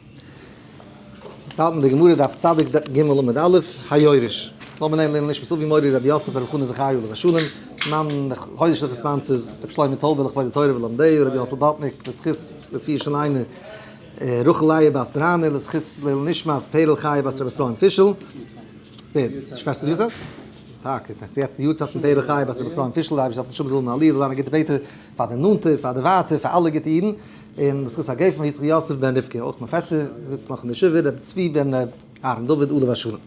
אין צייטן אין די גמרא דף צד ג עמוד א', היורש, לאמיר נעמען לענ ד נשמת אביו מורי רבי יוסף רבי חנא זכריה עליו השלום, מאן דחודש דאך עספאנסעס, רבי שלמה טויבער לכבוד די תורה ולומדיה, רבי יוסל באטניק לזכות רפיא של אימא רחליא בת ברנע לזכות לעילוי נשמת פערל חיה בת רבי אפרים פישל, שוועסטער, טאקע, ס'יעצט די יארצייט פון פערל חיה בת רבי אפרים פישל, די אייבערשטער זאל אויף אים שומען זאל האבן א עליה, זאל זיין א גוטע בעטער. פאר די נאנטע, פאר די ווייטע, פאר אלע גוטע אידן, און בזכות הגה פון יצחק יוסף בן רבקה, אויך מיין פעטער זיצט נאך אין די ישיבה, רבי צבי בן רבי אהרן דוד עליו השלום.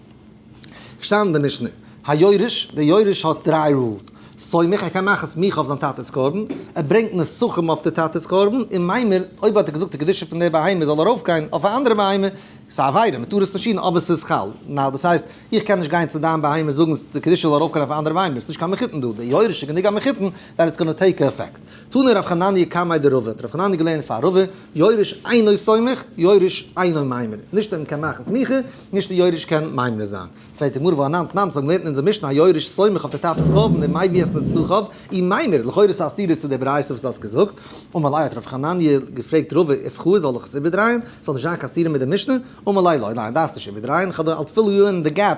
געשטאנען אין די משנה, היורש, דער יורש האט דריי רולס, סומך, ער קען מאכן סמיכה אויף זיין טאטע'ס קרבן, ער ברענגט נסכים אויף די טאטע'ס קרבן, און מיימר, אויב האט ער געזאגט די קדושה פון דער בהמה זאל ארויפגיין אויף א אנדערע בהמה, ס'איז א עבירה, מען טאר עס נישט טון, אבער ס'איז חל נ, דאס הייסט, איך קען נישט גיין צו דיין בהמה זאגן די קדושה זאל ארויפגיין אויף א אנדערע בהמה, ביסט נישט קיין מחותן דא, דער יורש איז גענוג א מחותן, דעט איטס גאנא טעיק א עפעקט. תנו ר' חנניה קמאי דרבה, האט ר' חנניה געלערנט פאר רבה, יורש אינו סומך, יורש אינו מיימר. נישט אז מ'קען מאכן סמיכה, נישט אז יורש קען מיימר זיין. פרעגט די גמרא וואו אנאנד נאנד ס'האט געלערנט אין אונזער משנה אז יורש סומך אויף די טאטע'ס קרבן און מאי ביעס נסחב אי מיימר, לכאורה איז עס א סתירה צו די ברייתא וואס האסט געזאגט, ומלאי האט ר' חנניה געפרעגט רבה איף חו זאל איך עס איבערדרייען, ס'זאל נישט זיין קיין סתירה מיט די משנה, ומלאי לא, ניין דארפסט נישט איבערדרייען, כ'האב דא אלט פילא יו אין די געפ.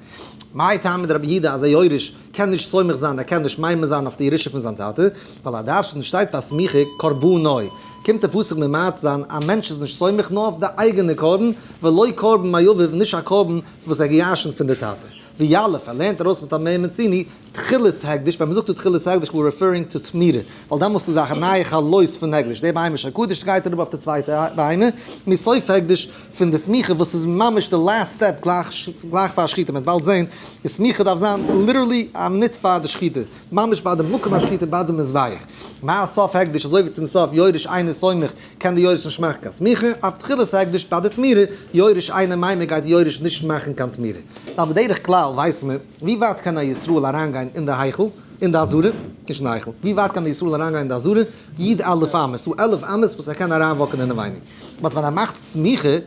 מאי טעמא דרבי יהודה אז א יורש קען נישט סומך זיין, ער קען נישט מיימר זיין אויף די ירושה פון זיין טאטע, ווייל א דרשן שטייט פאר סמיכה קרבנוי, קומט דער פסוק ממעט זיין א מענטש איז נישט סומך נאר אויף די אייגענע קרבן, ולא קרבן מאביו נישט א קרבן וואס ער האט געירשנט פון די טאטע, ווי יאלעפער לערנט ארויס מיט א מ' מציני, תחילת הקדש, ווען מ'זאגט דא תחילת הקדש איז מען רעפערינג טו תמירה, ווייל דעמאלסט איז א נייע חלות פון הקדש, די בהמה של קדש שגייט אראפ אויף די צווייטע בהמה, מי סוף הקדש פון די סמיכה וואס איז ממש די לאסט סטעפ גלייך פאר שחיטה, מ'וועט באלד זעהן, די סמיכה דארף זיין ליטערלי א מינוט פאר די שחיטה, ממש ביי די מקום השחיטה ביי די מזבח, מה סוף הקדש אזוי ווי צום סוף יורש אינו סומך קען די יורש נישט מאכן קיין סמיכה, אויף תחילת הקדש ביי די תמירה יורש אינו מיימר גייט די יורש נישט מאכן קיין תמירה, ווייל בדרך כלל ווייסט מען. ווי ווייט קען א ישראל אריינגיין אין די היכל? אין די אזהרה? נישט אין די היכל. ווי ווייט קען די ישראל אריינגיין אין די אזהרה? יד אלף אמה. ס'דא עלף אמות וואס ער קען אריינוואקן אינעווייניג. באט ווען ער מאכט סמיכה,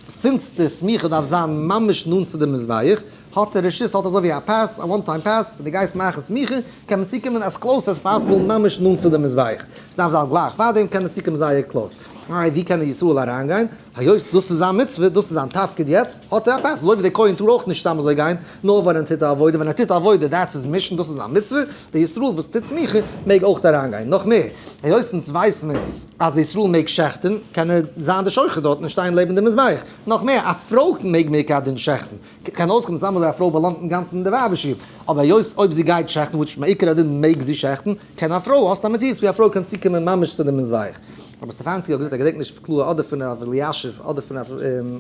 סינס די סמיכה דארף זיין ממש נאנט צו די מזבח, האט ער רשות, האט אזוי ווי א פעס, א וואן טיים פעס, ווען דו גייסט מאכן סמיכה, קען מען צוקומען עז קלאוס עז פאסיבל ממש נאנט צו די מזבח. ס'דארף זיין גלייך פארדעם קען ער צוקומען זייער קלאוס. איי ווי קען די ישראל אריינגיין? היות דאס איז זיין מצוה, דאס איז זיין תפקיד יעצט, האט ער א פעס. אזוי ווי די כהן טאר אויך נישט סתם אזוי גיין. נאר ווען ער טוט א עבודה, ווען ער טוט א עבודה דעטס איז מישן, דאס איז א מצוה, דער ישראל וואס טוט סמיכה מעג אויך אריין גיין, נאך מער, היות אונז ווייס מען אז דער ישראל מעג שעכטען, קען ער זיין דער שוחט דארטן און שטיין לעבן דער מזבח, נאך מער, א פרוי מעג מער קיין דין שעכטען, קען אויסקומען סתם אזוי א פרוי באלאנגט אינגאנצן אין דער ווייבער שול, אבער היות אויב זי גייט שעכטען וויטש מעיקר הדין מעג זי שעכטען, קען א פרוי, האסט א מציאות ווי א פרוי קען צוקומען ממש צו דער מזבח. רבי סטעפאנצקי האט געזאגט, איך געדענק נישט קלאר אדער פון ר' אלישיב אדער פון ר'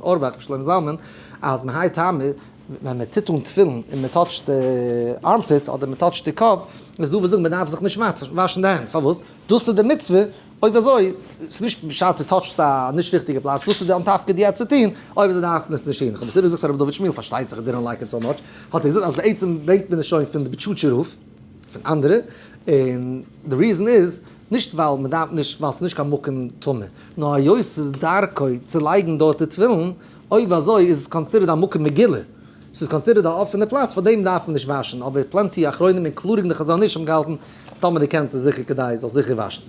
אורבאך, ר' שלמה זלמן, אז מהאי טעמא, ווען מען טוט אן תפילין און מען טאטשט די ארמפיט אדער מען טאטשט די קאפ, איז דא וואס זאגן מען דארף זיך נישט וואשן די הענט, פארוואס? דאס איז די מצוה, אויב אזוי, ס'איז נישט בשעת דו טאטשסט א נישט ריכטיגע פלאץ, דאס איז די אנטפקד יעצט צו טון, אויב זיי דארפן עס נישט טון, איך האב עס איבער געזאגט פאר ר' דוד שמואל, פארשטייט זיך ער דידענט לייק איט סאו מאטש, האט ער געזאגט אז בעצם ברענגט מען עס שוין פון די בוטשוטשער רב, פון אנדערע, און די ריזען איז, נישט ווייל מען דארף נישט, ווייל ס'איז נישט קיין מקום טמא, נאר היות ס'איז דרכו צו לייגן דארט די תפילין, אויב אזוי איז עס קאנסידערד א מקום מגילה, עס איז קאנסידערד א אפענע פלאץ פאר דעם דארף מען נישט וואשן, אבער פלענטי אחרונים אינקלאדינג די חזון איש האבן געהאלטן טאמער די קענסט איז זיכער כדאי זאלסט זיכער וואשן.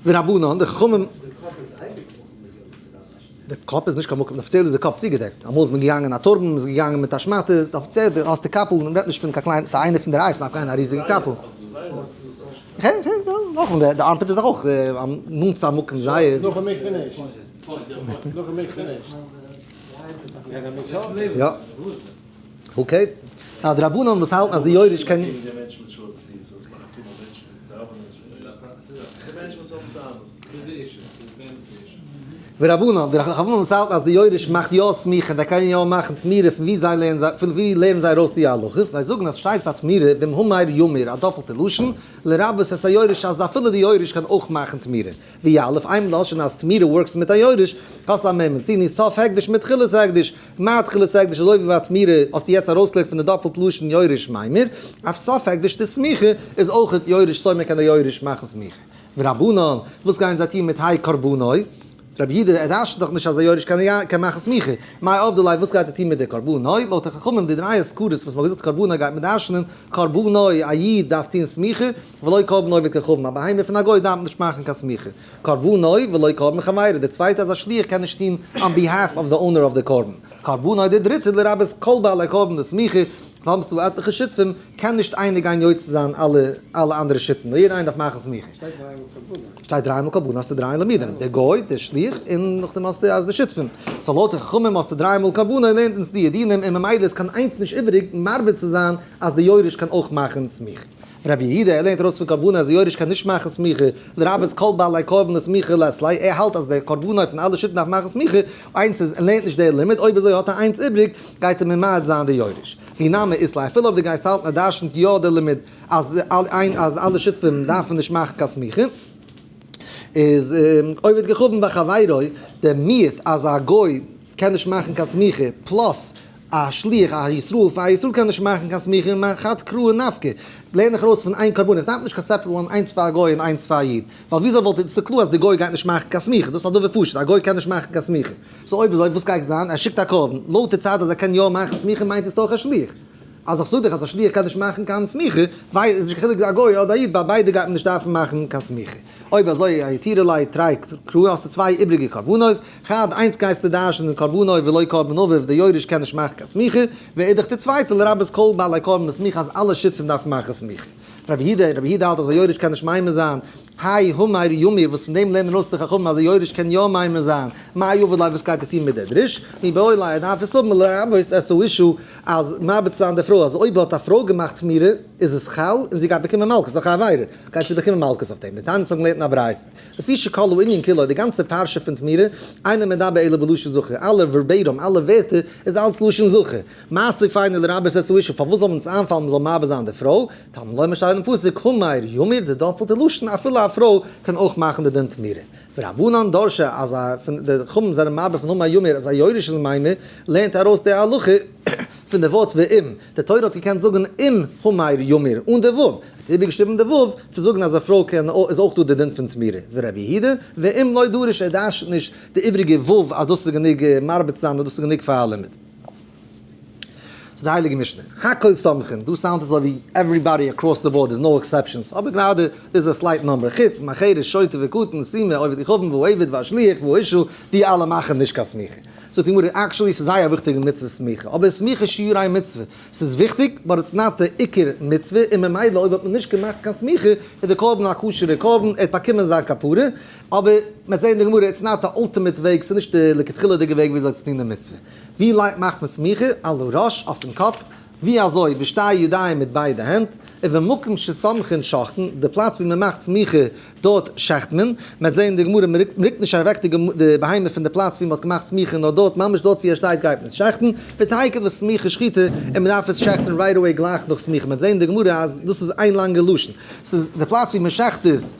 ורבנן, די חכמים. די קאפ איז אייביג מקום מגילה מען דארף וואשן. די קאפ איז נישט קיין מקום, אפיציעל איז די קאפ צוגעדעקט, אמאל איז מען געגאנגען א טורבאן, מען איז געגאנגען מיט א שמאטע, אפיציעל די האסט די קאפל, מען רעדט נישט פון קיין קליינע, ס'איז איינער פון די רייסן אויף א ריזיגע קאפל. נאכדעם די ארמפיט איז דאך אויך נאנט צו א מקום זייער. יא. אקעי. א דרבנן וואס האלטן אז די יורש קען. ורבנן, די רחבנן וואס האלטן אז די יורש מאכט יא סמיכה און זיי קענען יא מאכן תמירה פון ווי זיי לערנען זיי פון ווי לערנען זיי ארויס די הלכות, זיי זאגן אז שטייט ביי תמירה במהומאיר יאמיר א דאפלטע לשון, לרבות את היורש אז אפילו די יורש קען אויך מאכן תמירה. ווי א' אויף איין לשון אז תמירה ווארקס מיט א יורש, האסטו א מעמד סיני סוף הקדש מיט תחילת הקדש, מיין תחילת הקדש אזוי ווי ביי תמירה האסטו יעצט ארויסגעלייגט פון די דאפלט לשון יורש מימר, אויף סוף הקדש די סמיכה איז אויכעט יורש סוי מען קען די יורש מאכן סמיכה. ורבנן, וואס גייען זיי טון מיט האי קרבנאי? רבי יודא ער רש'ט דאך נישט אז א יורש קען קען מאכן סמיכה, מאי אב ד ליה וואס גייט ער טון מיט די קרבנאי? לויט די חכמים די דריי אזכרות וואס מען האט געזאגט קרבנאי גייט מען דרש'נען קרבנאי א איד דארף טון סמיכה, ולא קרבן עובד ככרבן א בהמה פון א גוי דארף נישט מאכן קיין סמיכה קרבנו ולא קרבן חבירו די צווייטע אז א שליח קען נישט טון אן ביהאלף אוו די אונער אוו די קרבן קרבנו די דריטע לרבות כל בעלי קרבן די סמיכה האבסטו עטליכע שותפים קען נישט איינער גיין יוצא זיין אלע אלע אנדערע שותפים נאר יעדער איינער דארף מאכן סמיכה. שטייט דריי מאל קרבנו האסטו דריי עלעמידעם די גוי די שליח און נאכדעם האסטו אז די שותפים סאו לויט די חכמים האסטו דריי מאל קרבנו לערנט אונז דיע דינים און ממילא איז קיין איינס נישט איבעריג מרבה צו זיין אז די יורש קען אויך מאכן סמיכה. רבי יהודה לערנט ארויס פון קרבנות אז די יורש קען נישט מאכן סמיכה, לרבות כל בעלי קרבנות סמיכה לעצלי, ער האלט אז דער קרבנות פון אלע שבטים דארף מאכן סמיכה, איינס איז און לערנט נישט דער לימוד, אויב אזוי האט ער איינס איבריג, גייט ער ממעט זיין די יורש. והיא נמי איסלא, אפילו אויב דו גייסט האלטן אז דרש'נט יא דער לימוד אז אז אלע שותפים דארפן נישט מאכן קיין סמיכה, איז עובד כחבן בחבירו, דער מיעוט אז א גוי קען נישט מאכן קיין סמיכה פלאס. א שליח א ישראל פאר א ישראל קען נישט מאכן קיין סמיכה און מאכן חד קראו נפקא, לערן איך ארויס פון איין קרבן איך דארף נישט קיין סעפערעט וואן איינס פאר א גוי און איינס פאר א איד, ווייל וויאזוי וואלט איך, ס'קלאר אז די גוי גייט נישט מאכן קיין סמיכה, דאס איז א דבר פשוט, א גוי קען נישט מאכן קיין סמיכה, סאו אויב אזוי וואס גייט זיין, ער שיקט א קרבן, לויט די צד אז ער קען יא מאכן סמיכה מיינט עס דורך א שליח, אז איך זאג דיך אז א שליח קען נישט מאכן קיין סמיכה, איז נישט קיין חילוק א גוי אדער א איד ביי ביידע גייט מען נישט דארפן מאכן קיין סמיכה. אויב אזוי א יתירה לייט תרי קרא האסטו צוויי איבריגע קרבנות, חד איינס גייסטו דרשנ'ען קרבנו ולא קרבן אביו די יורש קען נישט מאכן קיין סמיכה, ואידך די צווייטע לרבות כל בעלי קרבן די סמיכה אז אלע שותפים דארפן מאכן סמיכה. רבי יהודה און רבי יהודה האלט אז א יורש קען נישט מעמיר זיין, האי הומי יאמיר וואס פון דעם לערנען אויס די חכמים אז א יורש קען יא מעמיר זיין, מאי יאבד ליה וואס גייט ער טון מיט די דריש? מי באי ליה ער דארף עס האבן לרבות עס איז אישו אז מאבד צו זיין די פרוי אז אויב האט א פרוי געמאכט תמירה איז עס חל און זי גייט באקומען מלקות נאך א עבירה. גייט צו באקומען מלקות אויף דעם, די תענית האבן געלערנט אין א ברייתא, לפי שכלו ענין כולו, די גאנצע פרשה פון תמירה, אינו מדבר אלא בלשון זכר, אלע ווערבעירום, אלע ווערטער, איז אלץ לשון זכר, מעשי פיינע לרבות עשה אישה, פארוואס זאל אונז איינפאלן מען זאל מאבד זיין די פרוי, תלמי לומר שטייט אין פסוק, המאיר ימיר, די דאפעלטע לשון, אפילו א פרוי קען אויך מאכן די דין תמירה, ורבנן דרשו, אז א, פון די חכמים זענען מבהיר פון המאיר ימיר אז א יורש איז מיימר, לערנט ארויס די הלכה. פון די ווארט ואם, די תורה האט געקענט זאגן אם המאיר ימיר אן די ו', ער האט איבערגעשריבן די ו' צו זאגן אז א פרוי קען איז אויך דא די דין פון תמירה, ווי רבי יהודה, ואם לא דרוש ער דארשט נישט די איבריגע ו' אז דאס איז גענוג מרביץ זיין אז דאס איז גענוג פאר א לימוד. צו די הייליגע משנה, הכל סומכין, דא סאונדט אזוי ווי עווריבאדי אקראס די באורד איז נאו עקסעפשאנס, אבער גראדע איז דא א סלייט נומבער, חוץ מהחירש שוטה וקטן סימה עובד כוכבים ועבד ועשליח ואישה, די אלע מאכן נישט קיין סמיכה. זאגט די גמרא, עקשעלי ס'איז זייער וויכטיג אין מצוות סמיכה, אבער איז סמיכה שיעור איין מצוה? ס'איז וויכטיג, באט איטס נאט די עיקר מצוה, און ממילא אויב האט מען נישט געמאכט קיין סמיכה, איז די קרבן א כשר'ע קרבן, ער האט באקומען זיין כפרה, אבער מ'העט זעהן אין די גמרא, איטס נאט די אלטימעט וועג, ס'איז נישט די לכתחילה'דיגע וועג וויאזוי צו טון די מצוה. ווי מאכט מען סמיכה? על הראש? אויפן קאפ? ווי אזוי בשתי ידיים מיט ביידע הענט, ובמקום שסומכין שוחטין, די פלאץ ווי מען מאכט סמיכה דארט שעכט מען, מען וועט זען אין די גמרא מען רוקט מען רוקט נישט אוועק די בהמה פון די פלאץ ווי מען האט געמאכט סמיכה נאר דארט ממש דארט ווי ער שטייט גייט מען עס שעכטן, ותהי' כדברי סמיכה שחיטה און מען דארף עס שעכטן רייט אוועי גלייך נאך סמיכה, מען וועט זען אין די גמרא אז דאס איז איין לאנגע לשון, ס'איז די פלאץ ווי מען שעכט איז.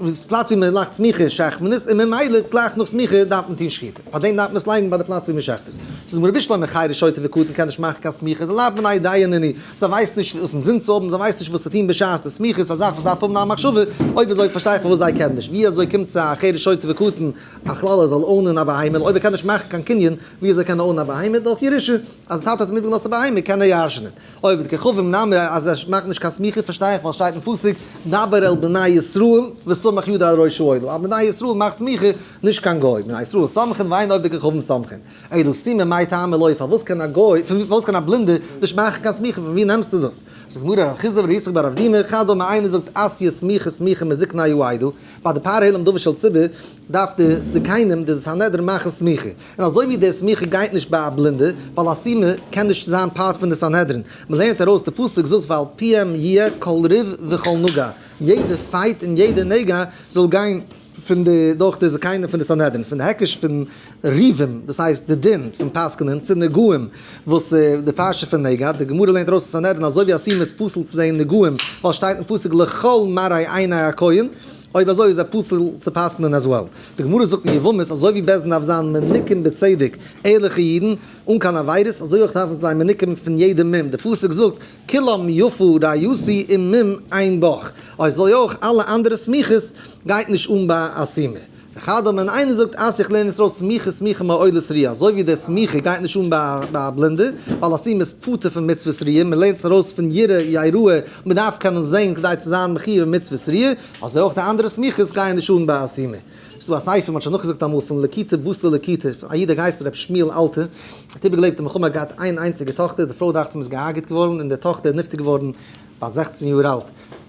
וואס איז פלאץ ווי מען לייגט סמיכה שחמנית, און ממילא גלייך נאך סמיכה דארף מען טון שחיטה, פארדעם דארף מען עס לייגן ביי די פלאץ ווי מען שחט עס. זאגט די גמרא רבי שלמה חיריש שוטה וקטן קען נישט מאכן קיין סמיכה די לאו מנאי דיין עני, זיי ווייסן נישט וואס אינזין צו האבן, זיי ווייסן נישט וואס צו טון בשעת די סמיכה איז א זאך וואס דארף האבן א מחשבה, אויב אזוי פארשטיי איך פארוואס זיי קענען נישט, ווי אזוי קומט צו א חיריש שוטה וקטן א כלל ער זאל אוינען א בהמה, און אויב ער קען נישט מאכן קיין קנין ווי אזוי קען ער אוינען א בהמה, דורך ירושה, אז די טאטע האט אים איבערגעלאזט א בהמה קען ער ירש'נען. אויב די כוכבים נאמר אז זיי מאכן נישט קיין סמיכה פארשטיי איך ווייל שטייט אין פסוק דבר אל בני ישראל וסמך ידו על ראש שאולו אז בני ישראל מאכט סמיכה נישט קיין גוי בני ישראל סמכין והיינו אויב די כוכבים סמכין אילו סימן מאי טעמא לוי פארוואס קען א גוי פארוואס קען א בלינדער נישט מאכן קיין סמיכה פון ווי נעמסטו דאס זאגט די גמרא ר' חיסדא ור' יצחק בר אבדימי אחד אמר איינער זאגט עשיה סמיכה סמיכה מזקניו הוא עדו ביי די פאר העלם דבר של ציבור דארף די זקנים די סנהדרין מאכן סמיכה. און אזוי ווי די סמיכה גייט נישט ביי א בלינדע, ווייל א סומא קען נישט זיין פארט פון די סנהדרין, מ'לערנט ארויס די פסוק זאגט ועל פיהם יהיה כל ריב וכל נגע, יעדע פייט און יעדע נגע זאל גיין פון די דורך די זקנים פון די סנהדרין, פון די היקש פון ריבים דאס הייסט די דין פון פסק'נען, צו נגעים וואס איז די פרשה פון נגע, די גמרא לערנט ארויס אין סנהדרין אזוי ווי א סומא איז פסול צו זעהן נגעים ווייל שטייט אין פסוק לכל מראי עיני הכהן, אויב אזוי איז ער פסול צו פסק'נען עז וועל. די גמרא זאגט אין יבמות אזוי ווי בעש ט דארף זיין מנוקים בצדק ערליכע אידן אן קיין עבירות אזוי אויך דארפן זיי מנוקים פון יעדע מום די פסוק זאגט כולם יפו ראיותי און מום אין בח אזוי אויך אלע אנדערע סמיכות גייט נישט אן ביי א סומא וכדומה און איינער זאגט אז איך לערן יעצט אויס סמיכה סמיכה מעולת ריאה אזוי ווי די סמיכה גייט נישט אן ביי א בלינדע ווייל א סומא איז פטור פון מצוות ריאה מען לערנט עס ארויס פון ירא יראה מען דארף קענען זען כדי צו זיין מחי' במצוות סריעה, אזוי אויך די אנדערע סמיכות גייען נישט אן ביי א סימא. ס'איז דא א ספר, מ'האט שוין נאכגעזאגט אמאל, פון לקיטה בשר לקיטה, פון א איד א גייסטער רבי שמואל אלתר, ער האט איבערגעלעבט די מלחמה, געהאט איין איינציגע טאכטער, די פרוי דאכצעם איז געהארגעט געווארן, און די טאכטער איז נפטר געווארן ביי זעכצן יאר אלט, מען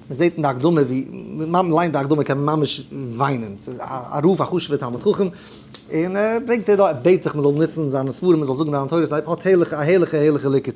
זעט אין די הקדמה ווי, ווען מען ליינט די הקדמה קען מען ממש וויינען, א רב א חשוב'ער תלמיד חכם, און ער ברענגט ער דא, ער בעט זיך מען זאל נוצן זיינע ספרים, מען זאל זאגן דיין תורות, א הערליכע הערליכע הערליכע ליקוט.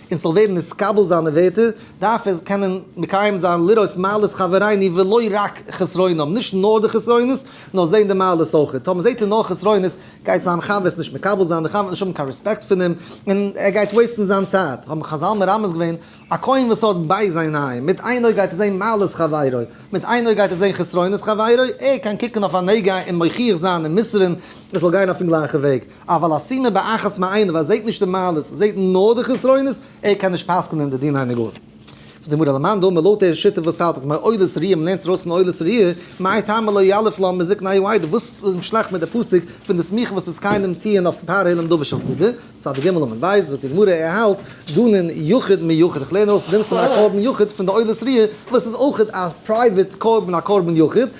און ס'זאל ווערן נתקבל זיינע ווערטער, דארף ער קענען מקיים זיין לראות מעלות חברינו ולא רק חסרונם, נישט נאר די חסרונות, נאר זען די מעלות אויכעט. טאמער זעט ער נאר חסרונות, גייט זיין חבר עס נישט מקבל זיין, דער חבר וועט נישט האבן קיין רעספעקט פון אים, און ער גייט וועיסטן זיין צייט. האבן חזל מרמז געווען, א כהן וואס האט בייז עיניים, מיט איין אויג גייט ער זען מעלות חברו, מיט איין אויג גייט ער זען חסרונות חברו, ער קען קוקן אויף א נגע און מוכיח זיין און מוסר'ן, עס זאל גיין אויפן גלייכן וועג. אבל השימה באחת מעיניו, ער זעהט נישט די מעלות, ער זעהט נאר די חסרונות, ער קען נישט פסק'נען די דיני נגעים. זאגט די גמרא על מאן דאמר לויט דער שיטה וואס האלט אז מעוררת ריאה, מ'לערנט עס ארויס פון מעוררת ריאה, מאי טעמא לא יאלף לו מזיק נאי וואי די, וואס איז שלעכט מיט די פסק פון די סמיכה וואס דאס קיינעם טוען אויף פאר העלם דבר של ציבור, צד ג עמוד ב', זאגט די גמרא ער האלט דנן יחיד מיוחד, איך לערן ארויס דין פון א קרבן יחיד פון די עוררת ריאה, וואס איז אויך א פרייוועט קרבן א קרבן יחיד,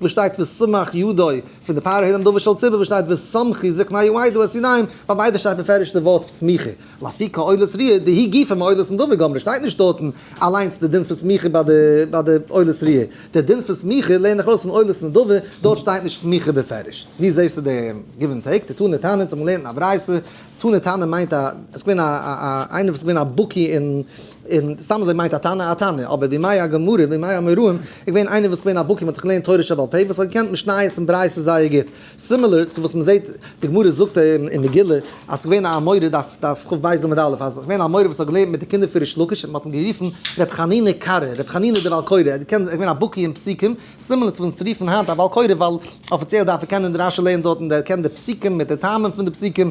וואו שטייט וסמך ידו פון די פאר הערים דבר של ציבור, וואו שטייט וסמכי זקניי יועדו את ידיהם, ביי ביידע שטייט מפורש די ווארט פון סמיכה, לפי כה עולת ריה, די היא גופא מעולת נדבה גמרא, שטייט נישט דארטן אליינס די דין פון סמיכה ביי די ביי די עולת ריה, די דין פון סמיכה לערן איך ארויס פון עולת נדבה, דארט שטייט נישט סמיכה בפירוש. וואו זעסטו די גיוו ענד טעיק? די תנא טענה'ט זיך מ'לערנט אין א ברייתא, תנא טענה'ן מיינט א, עס איז געווען א א א איינער וואס איז געווען א בקי אין. און סתם אזוי מיינט א תנא א תנא, אבער בימי הגמרא בימי אמוראים איז געווען איינער וואס איז געווען א בקי מ'האט געלערנט תורה שבעל פה וואס האט געקענט משניות און ברייתות זייער גוט, סימילער צו וואס מ'זעהט די גמרא זאגט אין מגילה אז ס'איז געווען א אמורא דף דף חב בית עמוד א' אז ס'איז געווען א אמורא וואס האט געלערנט מיט די קינדער פון ריש לקיש און מ'האט אים גערופן ר' חנינא קרא ר' חנינא דער בעל קורא ער האט געקענט ער איז געווען א בקי אין פסוקים סימילער צו וואס אונז רופן היינט א בעל קורא ווייל אפיציעל דארף ער קענען די רשי לערנען דארט און ער קען די פסוקים מיט די טעמים פון די פסוקים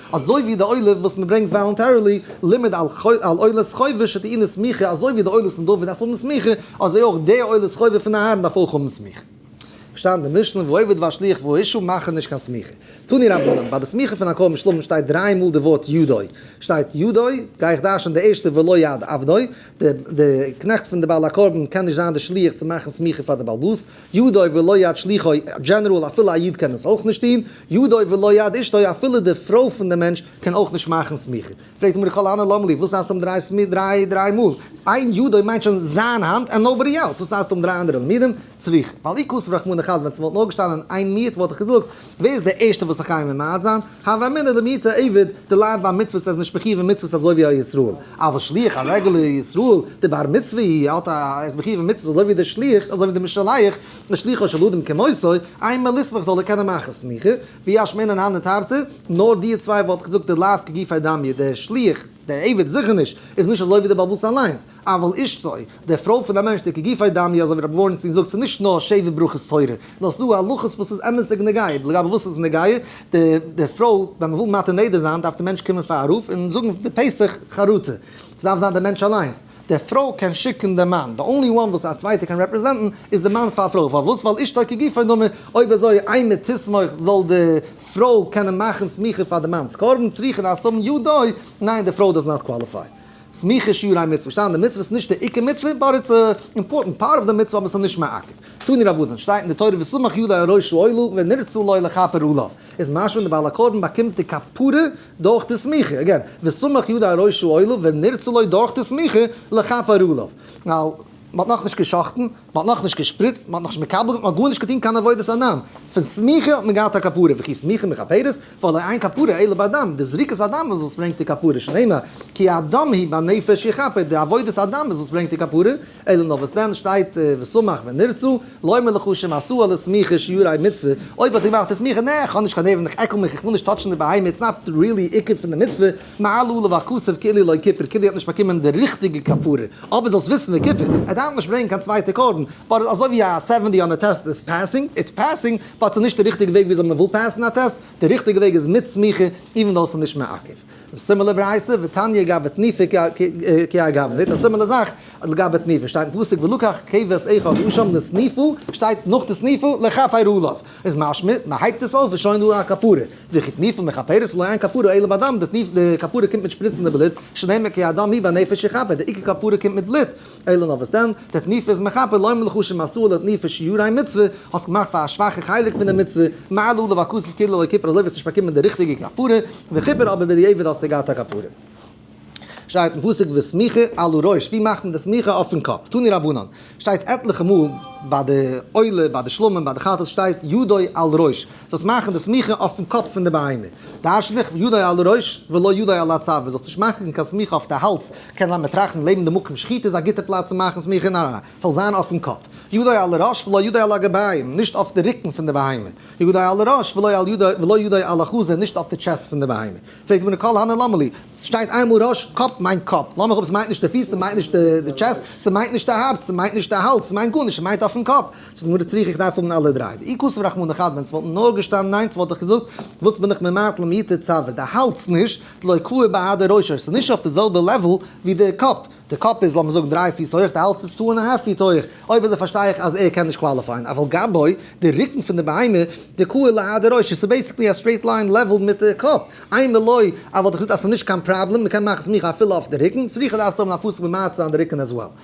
אזוי ווי די עולה וואס מען ברענגט וואלונטערילי, לימד על עולת חובה שטעינה סמיכה, אזוי ווי די עולת פון דוד דארף האבן סמיכה, אזוי אויך די עולת חובה פון אהרן דארף אויך האבן סמיכה. שטייט אין די משנה ועובד והשליח והאישו מאכן נישט קיין סמיכה. תני רבנן, ביי די סמיכה פון הקרבן שלמים שטייט דריי מאל די ווארט ידו, שטייט ידו, גיי איך דרש'ן די ערשטע ולא יד עבדו, די קנעכט פון די בעל הקרבן קען נישט זיין די שליח צו מאכן סמיכה פאר די בעל בית, ידו ולא יד שליחו, דזשענעראל אפילו א איד קען עס אויך נישט טון, ידו ולא יד אשתו אפילו די פרוי פון די מענטש קען אויך נישט מאכן סמיכה. פרעגט די גמרא הנא למה לי, וואס נעשט אום דריי דריי מאל? איין ידו מיינט שוין זיין האנט ענד נאובאדי עלס, וואס נעשט אום דריי אנדערע למידים? צריכה. ועל אי כסוף רחמנא חד ווען ס'וואלט נאר געשטאנען איין מיעוט וואלט איך געזאגט, ווער איז דער ערשטער וואס זאל קיימען מעיד זיין? הוה אמינא דעם היתה עבד, דער לייב ביי מצוות איז נישט מחיוב אין מצוות אזוי ווי א ישראל, אבל שליח א רעגולער ישראל, דער בר מצוה אי ה האט א, ער איז מחיוב אין מצוות אזוי ווי דער שליח, אזוי ווי דער משלח, לשליחו של אדם כמותו, איין מער לסמוך זאל ער קענען מאכן סמיכה, ויש מענין הני תרתי, נאר די צוויי וואלט איך געזאגט דער לייב כגופי דמי, דער שליח, דער עבד זיכער נישט, איז נישט אזוי ווי דער בעל בתים אליינס. אבל אשתו, די פרוי פון א מענטש די כגופי דמי אזוי ווי רבי ווארענשטיין זאגט ס'איז נישט נאר שבע ברכות תורה, נאר ס'איז דא הלכות וואס איז אמת'דיג נוגע, לגבי וואס איז נוגע, די פרוי ווען מ'וויל מטיל נדר זיין דארף די מענטש קומען פאר א רב און זאגן די פסח חרטה, ס'דארף זיין די מענטש אליינס, די פרוי קען שיקן די מאן, די אנלי וואן וואס א צווייטער קען רעפרעזענטן איז די מאן פאר פרוי, פארוואס ווייל אשתו כגופי דמי, אויב אזוי איין מתיסמוך זאל די פרוי קענען מאכן סמיכה פאר די מאנ'ס קרבן, צריכה דארפסט האבן ידו, ניין די פרוי דאזנאט קוואליפיי. סמיכה שיעור אין מצוה, שטיין די מצוה איז נישט די עיקר מצוה, באט איטס אימפארטענט פארט אוו די מצוה אבער ס'איז נישט מעכב. תני רבנן, שטייט אין די תורה וסמך ידי על ראשו עלו ונרצה לו לכפר עליו, איז משמע ווען די בעל הקרבן באקומט די כפרה דורך די סמיכה, אגעין, וסמך ידי על ראשו עלו ונרצה לו דורך די סמיכה לכפר עליו, ווייל מ'האט נאכנישט גע'שחט'ן, מ'האט נאכנישט געשפריצט, מ'האט נאכנישט מקבל געווען, מ'האט גארנישט געטון קיין עבודת הנן, פון סמיכה האט מען געהאט א כפרה, וכי סמיכה מכפרת? ווייל אין כפרה עולה באדם, די זריקת הדם איז וואס ברענגט די כפרה, שנאמר, כי הדם היא בנפש יכפר, די עבודת הדם איז וואס ברענגט די כפרה, אלא נאר וואס דען שטייט ושמח ונרצו, לא אומר לך שהם עשו על הסמיכה שיעור א מצוה, אויב האט ער געמאכט די סמיכה, נעה, איך האב נישט קיין נערוון, איך עקל מיך, איך וויל נישט טאטשן די בהמה, איטס נאט ריעלי עיקר פון די מצוה, מעל עליו הכסף כאילו לא כפר, כאילו ער האט נישט באקומען די ריכטיגע כפרה, אבער זאלסט וויסן וכפר, ער דארף נישט ברענגן קיין צווייטע קרבן, באט אזוי ווי א סעווענטי אן א טעסט איז פעסינג, איטס פעסינג, פארט איז נישט די ריכטיגע וועג וויאזוי מען וויל פעסן א טעסט, די ריכטיגע וועג איז מיט סמיכה איווען דאו עס איז נישט מעכב. א סימילער ברייתא ותניא גבי תניפה כ א גבי נית, א סימילער זאך לגבי תניפה שטייט אין פסוק ולקח כבש אחד ושם לסניפו שטייט נאך די סניפו לכפר עליו איז משמע מען הייבט עס אויף איז שוין דא א כפרה וכי תניפה מכפרת ולא אין כפרה אלא בדם די כפרה קומט מיט שפריצן די בלוט שנאמר כי הדם הי' והנפש יכפר די עיקר כפרה קומט מיט בלוט אלא נאר וואס דען? די תניפה איז מכפר לומר לך שמסור לתניפה שיעורי מצוה, האסט געמאכט פאר א שוואכע חלק פון די מצוה, מעל עליו הכסף כאילו לא כיפר אזוי וועסטו נישט באקומען די ריכטיגע כפרה, וכיפר אבער בדיעבד האסטו געהאט א כפרה. שטייט אין פסוק וסמיכה על הראש, ווי מאכט מען די סמיכה אויפן קאפ? תני רבנן, שטייט עטליכע מאל ביי די עולה, ביי די שלמים, ביי די חתס שטייט ידו על ראש. זאלסט מאכן די סמיכה אויפן קאפ פון די בהמה, דארשט נישט ידי על הראש ולא ידי על הצוואר, זאלסט נישט מאכן קיין סמיכה אויף די האלז, קען זיין מיר טראכטן לעבן די מקום שחיטה איז א גוטע פלאץ צו מאכן סמיכה, ניין, ס'זאל זיין אויפן קאפ, ידי על הראש ולא ידי על הגביים, נישט אויף די רוקן פון די בהמה, ידי על הראש ולא ידי על החזה, נישט אויף די טשעסט פון די בהמה, פרעגט די גמרא כל הנה למה לי, ס'שטייט איינמאל ראש, קאפ מיינט קאפ, לאמיר האבן ס'מיינט נישט די פיס, ס'מיינט נישט די טשעסט, ס'מיינט נישט די הארץ, ס'מיינט נישט די האלז, ס'מיינט גארנישט, ס'מיינט אויפן קאפ, זאגט גמרא צריך איך דארף האבן אלע דריי ואי כסוף רחמנא חד ווען ס'וואלטן נאר געשטאנען איינס וואלט איך געזאגט וואס בין איך ממעט למיתה צבר די האלז נישט תלוי כלו בהדר ראשו ס'איז נישט אויף די זעלבע לעוועל ווי די קאפ די קאפ איז לאמיר זאגן דריי פיס הויעך די האלז איז טו ענד א האלף פיט הויעך אויב אזוי פארשטיי איך אז ער קען נישט קוואליפייען אבל גבאי די רוקן פון די בהמה די כלו להדר ראשו ס'איז בעיסיקלי א סטרעיט ליין לעוועל מיט די קאפ איי מילוי אז וואלט איך געזאגט אז ס'איז נישט קיין פראבלעם מ'קען מאכן סמיכה אפילו אויף די רוקן צריך איך דארף האבן א פסק ממעט זיין די רוקן עז וועל.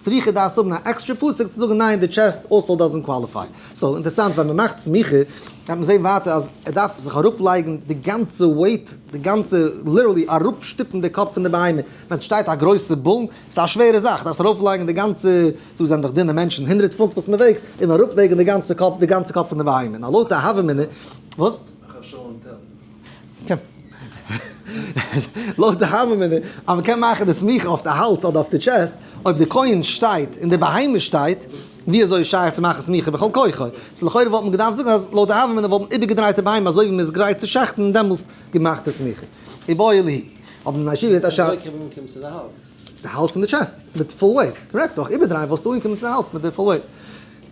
סמיכה דארפסט האבן א עקסטרע פסק צו זאגן ניין די טשעסט אויסוואל דאזענט קוואליפיי. סאו אינטערסאנט ווען מען מאכט סמיכה גייט מען זעהן ווייטער אז ער דארף זיך אראפ לייגן די גאנצע וועיט די גאנצע ליטערלי אראפ שטופן די קאפ פון די בהמה ווען סשטייט א גרויסע באן סאיז א שווערע זאך דארפסט ארויף לייגן די גאנצע דא זענען דאך דינע מענטשן הונדרעט פונט וואס מען וועגט און אראפ וועגן די גאנצע קאפ די גאנצע קאפ פון די בהמה נאר לויט א הווא אמינא וואס? לויט די הווא מינא, אז מ'קען מאכן די סמיכה אויף די האלדז אדער אויף די טשעסט, אויב די כהן שטייט און די בהמה שטייט, ווי אזוי איז שייך צו מאכן סמיכה בכל כוחו? סאו לכאורה וואלט מען געדארפט זאגן אז לויט די הווא מינא וואלט מען איבערגעדרייט די בהמה אזוי ווי מ'איז גרייט צו שחט'ן און דעמאלסט געמאכט די סמיכה. אבער אילו היא. די האלז און די טשעסט מיט פול וועיט, קארעקט, אויך איבערדרייען וואלסטו אנגעקומען צו די האלז מיט די פול וועיט.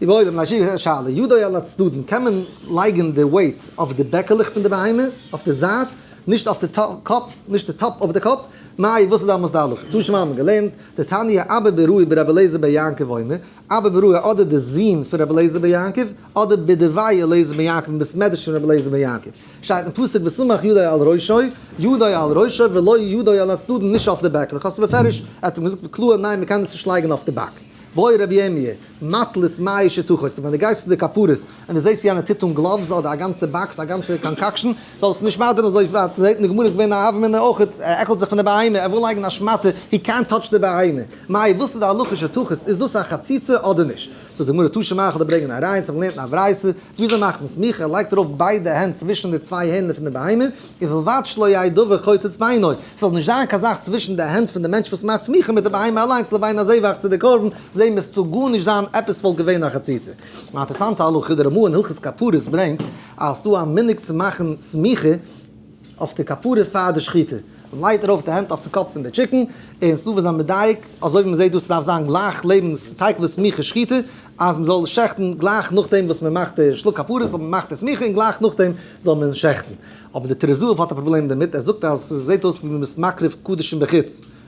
געבוידעם, א שיעור געזעץ שאלה, ידי על הצדדים, קען מען לייגען די וועיט אויף די בעקעלעך פון די בהמה, אויף די זייט, נישט אויף די קאפ, נישט די טאפ אויף די קאפ, מאי, וואס איז די אמות די הלכה? צו שוין האבען געלערנט די תניא אבא ברהוה ברבי אליעזר בר יעקב אומר, אבא ברהוה אדער די זוהן פון רבי אליעזר בר יעקב, אדער בדברי אליעזר בן יעקב און בית מדרש פון רבי אליעזר בן יעקב, שטייט אין פסוק וסמך ידיו על ראשו, ידיו על ראשו ולא ידיו על הצדדים נישט אויף די בעקלעך, האסט בפירוש, ער האט אים געזאגט קלאר ניין מען קען דאס נישט לייגן אויף די בעק. בואי רבי ירמי', מטלית מאי שתחוצה, ווען די גייסט צו די כפרות און די זעסט יענער טוט אן גלאווס אדער א גאנצע באקס א גאנצע קאנקאקשן, זאלסט נישט מאדערן אזוי ווייט, מ'זעט אין די גמרא איז געווען א הוה אמינא אויך, ער עקלט זיך פון די בהמה, ער וויל לייגן א שמאטע, הי קענט טאטש די בהמה, מאי וואס איז די הלכה שתחוץ, איז דאס א חציצה אדער נישט? זאגט די גמרא תשמח אדער ברענג אין א ראיה צו האבן געלערנט אין א ברייתא, וויאזוי מאכט מען סמיכה, ער לייגט ארויף ביידע הענט צווישן די צוויי הערנער פון די בהמה, און ובלבד שלא יהיה דבר חוטא את בעינו, ס'זאל נישט זיין קיין זאך צווישן די הענט פון די מענטש וואס מאכט סמיכה מיט די בהמה אליינס לבין הזבח צו די קרבן, זעה מיר ס'טאר גארנישט זיין עפעס וואלט געווען א חציצה. אן אינטערעסאנטע הלכה, די רמא אין הלכות כפרות ברענגט אז ס'דא א מנהג צו מאכן סמיכה, אויף די כפרה פאר די שחיטה, מען לייגט ארויף די הענט אויפן קאפ פון די טשיקן, און ס'דארף זיין מדייק, אזוי ווי מען זעט דא, ס'דארף זיין גלייך לעבן תיכף די סמיכה שחיטה, אז מען זאל שעכטן גלייך נאכדעם וואס מען מאכט די שלאק כפרות, זאל מען מאכט די סמיכה און גלייך נאכדעם זאל מען שעכטן. אבער די טריז זהב האט א פראבלעם דערמיט, ער זאגט אז ס'זעט אויס ווי מען איז מקריב קדשים בחוץ.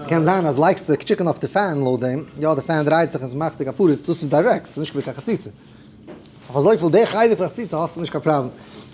ס'קען זיין אז לייגסטו די טשיקן אויף די פען לויט דעם, יא די פען דרייט זיך און ס'מאכט די כפרות, דאס איז דיירעקט, ס'איז נישט ווי קיין חציצה. אויף אזויפיל די חלק פון חציצה האסטו נישט קיין פראבלעם.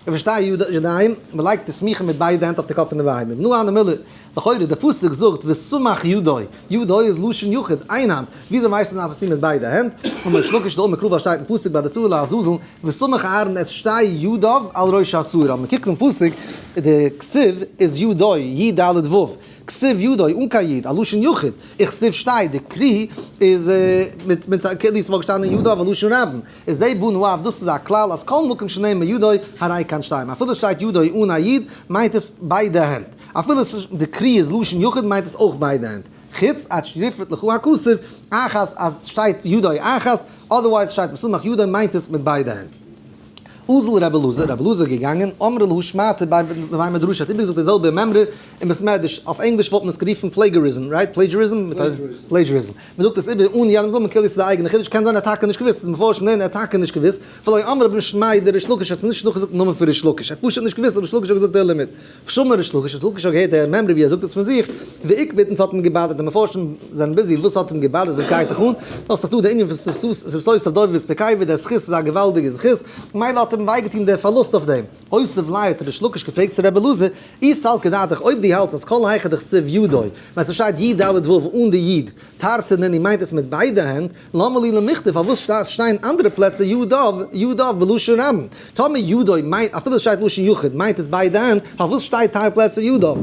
איך פארשטיי ידיים, מ'לייגט די סמיכה מיט ביידע הענט אויף די קאפ פון די ווייב. נו הא נמילא, לכאורה, דער פסוק זאגט וסמך ידו, ידו איז לשון יחיד, איין האנט. וויאזוי ווייסט מען אז מען דארף עס טון מיט ביידע הענט? און ריש לקיש דאמר קרא וואס שטייט אין פסוק ביי די סלע לעזאזל, וסמך אהרן את שתי ידיו על ראש הסלע, אז מען קוקט אין פסוק, די כסיב איז ידו, י ד ו, כסיב ידו, אן קיין יוד, א לשון יחיד, און כסיב שתי, די קרי איז מיט מיט א, כאילו ס'וואלט געשטאנען ידו א לשון רבים, איז זה בנ ו, דאס איז א כלל אז כל מקום שנאמר ידו הרי כאן שתיים, אפילו ס'שטייט ידו אן א יוד מיינט עס ביידע הענט, אפילו די קרי איז לשון יחיד מיינט עס אויך ביידע הענט. חוץ א טשריפת לכו הכסף אחת אז סשטייט ידי אחת, אדערווייז שטייט ושמח ידי מיינט עס מיט ביידע הענט. אזל רבי אלעזר, רבי אלעזר איז געגאנגען, אמר להו שמעתי ביי מדרש, ער האט איבערגעזאגט די זעלבע מימרא אין בית מדרש, אויף ענגליש וואלט מען עס גערופן פלעיגעריזם, רייט? פלעידזשעריזם? פלעידזשעריזם. מען זאגט עס איבער אן יעדעם זאגן כאילו עס איז די אייגענע חידוש, קען זיין ער האט טאקע נישט געוואוסט, די מפרשים זעען ער האט טאקע נישט געוואוסט, ולא אמר רבן שמעי' דער ריש לקיש האט עס נישט נאכגעזאגט דעם נאמען פון ריש לקיש, ער האט פשוט נישט געוואוסט אז ריש לקיש האט געזאגט דער לימוד, חשוב'ן ריש לקיש האט לקיש האט געהערט דער מימרא ווי ער זאגט עס פון זיך, ועיקבתא ס'האט אים געבאדערט, די מפרשים זענען ביזי וואס ס'האט אים געבאדערט וואס גייט דיך אן, דו האסט דאך דא די ענין פון ספסוס אויף דוד וספיקאי ווי דער זכות איז א געוואלדיגע זכות, ממילא האט אים וויי געטון דער פארלוסט אויף דעם, הוסף ליה האט ריש לקיש געפרעגט צו ר' אלעזר, אי סל כדעתך אויב דו האלטסט אז כל היכא דכסיב ידו, ווען ס'שטייט י ד ו אן די י', תרתי נ י מיינט עס מיט ביידע הענט, למה לי למכתב, פארוואס שטארף שטיין אנדערע פלעצער ידיו, ידיו, בלשון רבים? טאמער ידיו מיינט, אפילו עס שטייט לשון יחיד, מיינט עס ביידע הענט, פארוואס שטייט טייל פלעצער ידיו?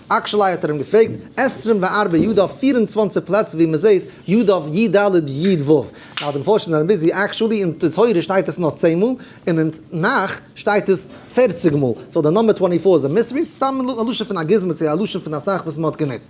עקשלי האט ער אים געפרעגט, עשרים וארבע ידיו, פֿיר און צוואַנציק פלעצער ווי מען זעט ידיו, י ד, י ו. ער האט אים פארשעמט מיט זיין ביזי עקשלי, אין די תורה שטייט עס נאר צען מאל, און אין תנך שטייט עס פֿערציק מאל, סאו די נומבער טווענטי פאר איז א מיסטערי, ס'איז סתם א לשון פון א גוזמא צו א לשון פון א זאך וואס מען האט גענוצט.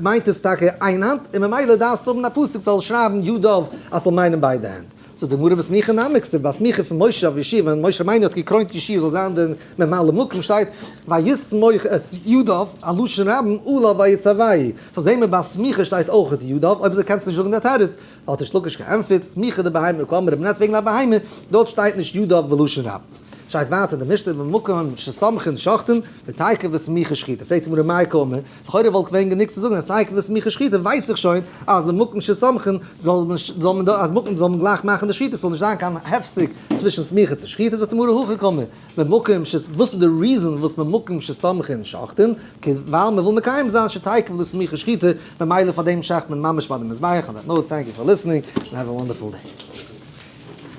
מיינט עס טאקע איין האנט, און ממילא דארפסטו האבן א פסוק ס'זאל שרייבן ידיו אז ס'זאל מיינען ביידע הענט. זאגט די גמרא וסמיכין נמי, כסדר ביי סמיכה פון משה אויף ישי, ווען משה רבינו האט געקרוינט ישי זאל זיין דער ממלא מקום שטייט ויסמוך את ידיו, א לשון רבים אולי ויצווי', פאר זעהן מיר ביי סמיכה שטייט אויך את ידיו, אויב אזוי קענסטו נישט זאגן דער תירוץ, האט ריש לקיש געענטפערט, סמיכה דבהמה כאמר רב נ וועגן א בהמה, דארט שטייט נישט ידיו בלשון רבים. שטייט ווייטער אין די משנה במקום שסמכין שחטין, ותייקר וסמיכה שחיטה, פרעגט די גמרא מאי קאמר, לכאורה וואלט געווען גענוג צו זאגן אז סיי כדי סמיכות שחיטה ווייס איך שוין אז במקום שסמכין זאל מען זאל מען דא אז מקום זאל מען גלייך מאכן די שחיטה ס'זאל נישט זיין קיין הפסק צווישן סמיכה צו שחיטה זאגט די גמרא הכי קמא במקום ש וואס איז די ריזען וואס במקום שסמכין שחטין כ ווייל מ'וויל מקיים זיין שתעכב די סמיכה שחיטה ממילא פארדעם שחט מען ממש ביי די מזבח און דעט נאוט טענק יו פאר ליסענינג און העוו א וואנדערפול דעי.